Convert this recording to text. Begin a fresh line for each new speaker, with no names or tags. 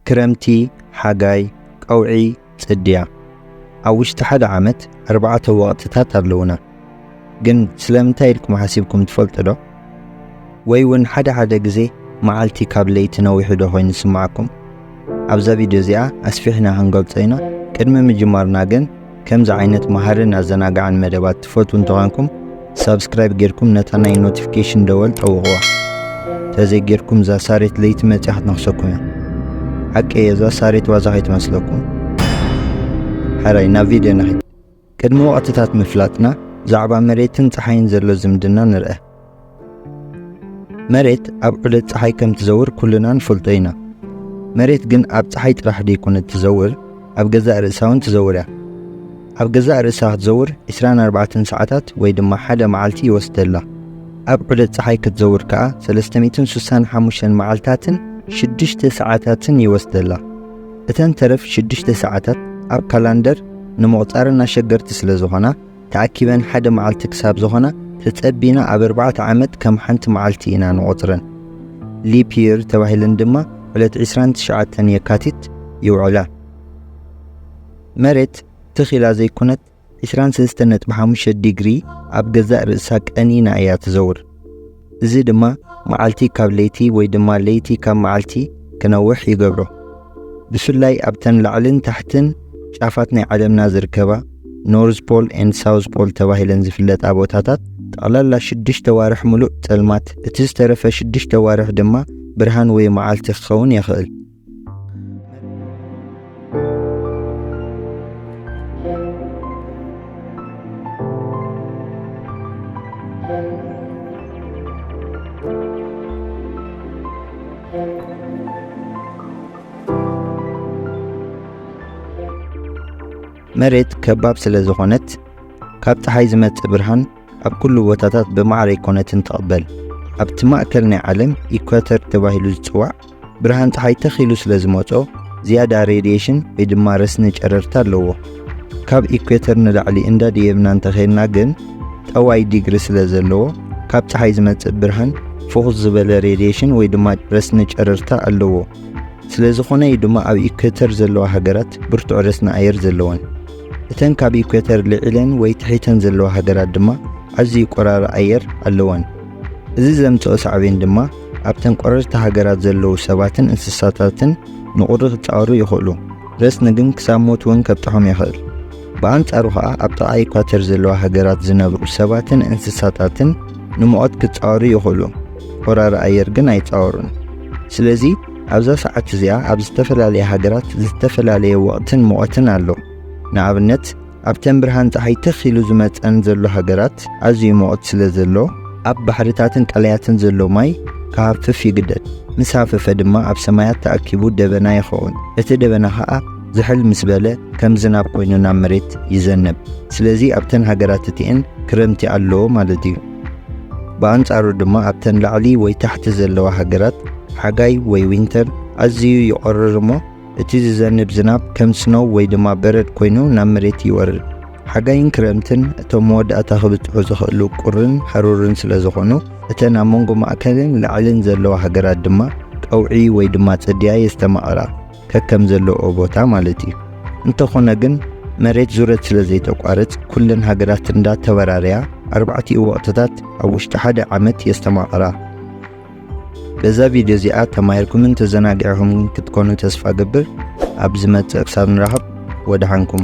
ክረምቲ፣ ሓጋይ፣ ቀውዒ፣ ጽድያ፣ ኣብ ውሽጢ ሓደ ዓመት ኣርባዕተ ወቕትታት ኣለዉና። ግን ስለምንታይ ኢልኩም ሓሲብኩም ትፈልጡ'ዶ? ወይ ውን ሓደ ሓደ ግዜ መዓልቲ ካብ ለይቲ ነዊሑ'ዶ ኮይኑ ዝስምዓኩም? ኣብዛ ቪድዮ እዚኣ ኣስፊሕና ክንገልጾ ኢና፣ ቅድሚ ምጅማርና ግን፣ ከምዚ ዓይነት መሃርን ኣዘናጋዕን መደባት ትፈትዉ እንተኾንኩም ሳብስክራይብ ጌርኩም ነታ ናይ ኖቲፊኬሽን ደወል ጠውቕዋ ተዘይ ጌርኩም እዛ ሳሬት ለይቲ መፅያ ክትነኽሰኩም እያ ሓቂ እየ እዛ ሳሬት ዋዛ ከይትመስለኩም ሓራይ ናብ ቪድዮ ንኺድ ቅድሚ ወቕትታት ምፍላጥና ብዛዕባ መሬትን ፀሓይን ዘሎ ዝምድና ንርአ መሬት ኣብ ዑደት ፀሓይ ከም ትዘውር ኩልና ንፈልጦ ኢና። መሬት ግን ኣብ ፀሓይ ጥራሕ ደይኮነት ትዘውር፣ ኣብ ገዛእ ርእሳ እውን ትዘውር እያ። ኣብ ገዛእ ርእሳ ክትዘውር 24 ሰዓታት ወይ ድማ ሓደ መዓልቲ ይወስደላ። ኣብ ዑደት ፀሓይ ክትዘውር ከዓ 365 መዓልታትን 6 ሰዓታትን ይወስደላ። እተን ተረፍ 6 ሰዓታት ኣብ ካላንደር ንምቑፃር ኣሸገርቲ ስለዝኾና ተኣኪበን ሓደ መዓልቲ ክሳብ ዝኾና ተጸቢና ኣብ ኣርባዕተ ዓመት ከም ሓንቲ መዓልቲ ኢና ንቖጽረን። Leap Year ተባሂለን ድማ ዕለት ዕስራን ትሽዓተን የካቲት ይውዕላ። መሬት ትኽ ኢላ ዘይኮነት ዕስራን ሰለስተን ነጥቢ ሓሙሽተ ዲግሪ ኣብ ገዛእ ርእሳ ቀኒና እያ ትዘውር። እዚ ድማ መዓልቲ ካብ ለይቲ ወይ ድማ ለይቲ ካብ መዓልቲ ክነውሕ ይገብሮ። ብፍላይ ኣብተን ላዕልን ታሕትን ጫፋት ናይ ዓለምና ዝርከባ ኖርዝ ፖል ኤንድ ሳውዝ ፖል ተባሂለን ዝፍለጣ ቦታታት ጠቕላላ ሽዱሽተ ኣዋርሕ ምሉእ ጸልማት፣ እቲ ዝተረፈ ሽዱሽተ ኣዋርሕ ድማ ብርሃን ወይ መዓልቲ ክኸውን የኽእል። መሬት ከባብ ስለ ዝኾነት ካብ ፀሓይ ዝመጽእ ብርሃን ኣብ ኩሉ ቦታታት ብማዕረ ኣይኮነትን ትቕበል። ኣብቲ ማእከል ናይ ዓለም ኢኳተር ተባሂሉ ዝጽዋዕ ብርሃን ፀሓይ ተኽ ኢሉ ስለ ዝመጾ ዝያዳ ሬድየሽን ወይ ድማ ረስኒ ጨረርቲ ኣለዎ። ካብ ኢኩዌተር ንላዕሊ እንዳደየብና እንተኼድና ግን ጠዋይ ዲግሪ ስለ ዘለዎ ካብ ፀሓይ ዝመጽእ ብርሃን ፍኹስ ዝበለ ሬድየሽን ወይ ድማ ረስኒ ጨረርታ ኣለዎ። ስለ ዝኾነ እዩ ድማ ኣብ ኢኩዌተር ዘለዋ ሃገራት ብርቱዕ ረስኒ ኣየር ዘለወን። እተን ካብ ኢኩዌተር ልዒለን ወይ ትሒተን ዘለዋ ሃገራት ድማ ኣዝዩ ቆራሪ ኣየር ኣለወን። እዚ ዘምጽኦ ሳዕቤን ድማ ኣብተን ቆረርቲ ሃገራት ዘለዉ ሰባትን እንስሳታትን ንቑሪ ክጻወሩ ይኽእሉ፣ ረስኒ ግን ክሳብ ሞት እውን ከብጽሖም ይኽእል። ብኣንጻሩ ኸኣ ኣብ ጥቓ ኢኳተር ዘለዋ ሃገራት ዝነብሩ ሰባትን እንስሳታትን ንሙቐት ክጻወሩ ይኽእሉ፣ ወራሪ ኣየር ግን ኣይጻወሩን። ስለዚ ኣብዛ ሰዓት እዚኣ ኣብ ዝተፈላለያ ሃገራት ዝተፈላለየ ወቕትን ሙቐትን ኣሎ። ንኣብነት፣ ኣብተን ብርሃን ጸሓይ ትኽ ኢሉ ዝመጸን ዘሎ ሃገራት ኣዝዩ ሙቕት ስለ ዘሎ፣ ኣብ ባሕርታትን ቀላያትን ዘሎ ማይ ክሃፍፍ ይግደድ። ምስ ሃፈፈ ድማ ኣብ ሰማያት ተኣኪቡ ደበና ይኸውን። እቲ ደበና ከኣ ዝሕል ምስ በለ ከም ዝናብ ኮይኑ ናብ መሬት ይዘንብ። ስለዚ ኣብተን ሃገራት እቲኤን ክረምቲ ኣሎ ማለት እዩ። ብኣንጻሩ ድማ ኣብተን ላዕሊ ወይ ታሕቲ ዘለዋ ሃገራት ሓጋይ ወይ ዊንተር ኣዝዩ ይቖርር እሞ፣ እቲ ዝዘንብ ዝናብ ከም ስኖው ወይ ድማ በረድ ኮይኑ ናብ መሬት ይወርድ። ሓጋይን ክረምትን እቶም መወዳእታ ክብጽሑ ዝኽእሉ ቁርን ሃሩርን ስለ ዝኾኑ እተን ኣብ መንጎ ማእከልን ላዕልን ዘለዋ ሃገራት ድማ ቀውዒ ወይ ድማ ጽድያ የስተማቕራ፣ ከከም ዘለኦ ቦታ ማለት እዩ። እንተኾነ ግን መሬት ዙረት ስለ ዘይተቋርጽ ኩለን ሃገራት እንዳ ተበራርያ ኣርባዕቲኡ ወቕትታት ኣብ ውሽጢ ሓደ ዓመት የስተማቕራ። በዛ ቪድዮ እዚኣ ተማሂርኩምን ተዘናጊዕኹምን ክትኮኑ ተስፋ ገብር ኣብ ዝመጽእ ክሳብ ንራኸብ ወድሓንኩም